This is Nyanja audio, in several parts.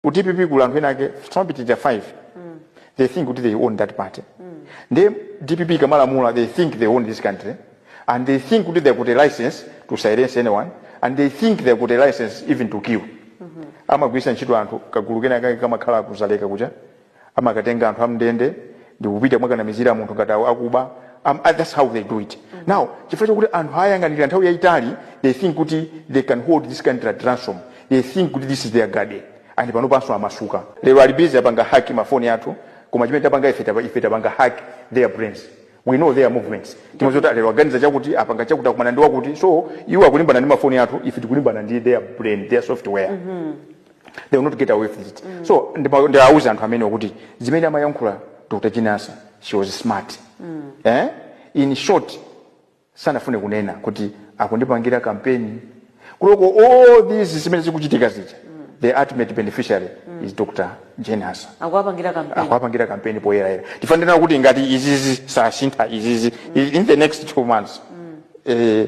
ku dpp kuli anthu enake samapitiriza 5 they think kuti they own that party ndiye dpp ikamalamula they think they own this country and they think kuti they got a license to silence anyone and they think they got a license even to kill amagwiritsa ntchito anthu kagulu kenakake kamakhala ku dzaleka kuja amakatenga anthu a mndende ndikupita mwakanamizira munthu ngati awo akuba um, uh, that's how they do it mm. now chifukwa chakuti anthu ayang'anira nthawi yayitali they think kuti they can hold this country at ransom they think kuti this is their garden and panopanso amasuka lero ali busy apanga hack mafoni athu koma chimene tapanga ife tapa- ife tapanga hack their brains we know their movements timadziwa zoti lero aganiza chakuti apanga chakuti akumana ndi wakuti so iwo akulimbana ndi mafoni athu ife tikulimbana ndi their brain their software they will not get away with it mm. so ndawauza anthu amenewo kuti zimene amayankhula dr jane ansah she was smart mm. eh? in short sanafune kunena kuti akundipangira kampeni kuloko all these zimene zikuchitika zija mm. the ultimate beneficiary mm. is dr jane ansah akuwapangira kampeni poyerayera tifanira kuti ngati izizi sasintha izizi mm. in the next two months mm. eh,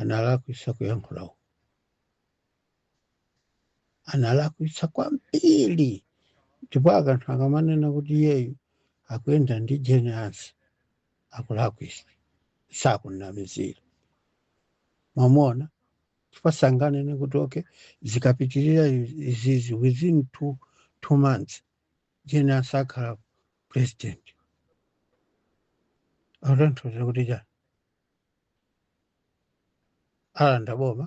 analakwisa kuyankhula uko analakwisa kwambiri ndipo anthu akamanena kuti iyeyu akuyenda ndi jane ansah sakulakwisa sakunamizira mwamona chifukwa sanganene kuti okay zikapitirira izizi within two, two months jane ansah akhala president akutanthauza kuti chani alanda boma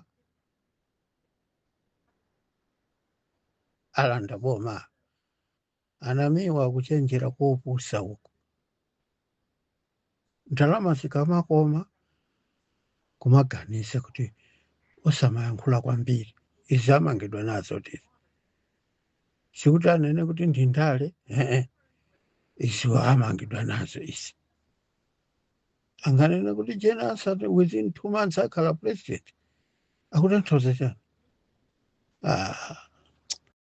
alanda boma anamiwa kuchenjera kopusa uko ndalama zikamakoma kumaganiza kuti osamayankhula kwambiri izi amangidwa nazotu izi sikuti anene kuti ndi ndale ee izi amangidwa nazo izi anganene kuti jane ansah within two months akhala president akutanthauza chani ah,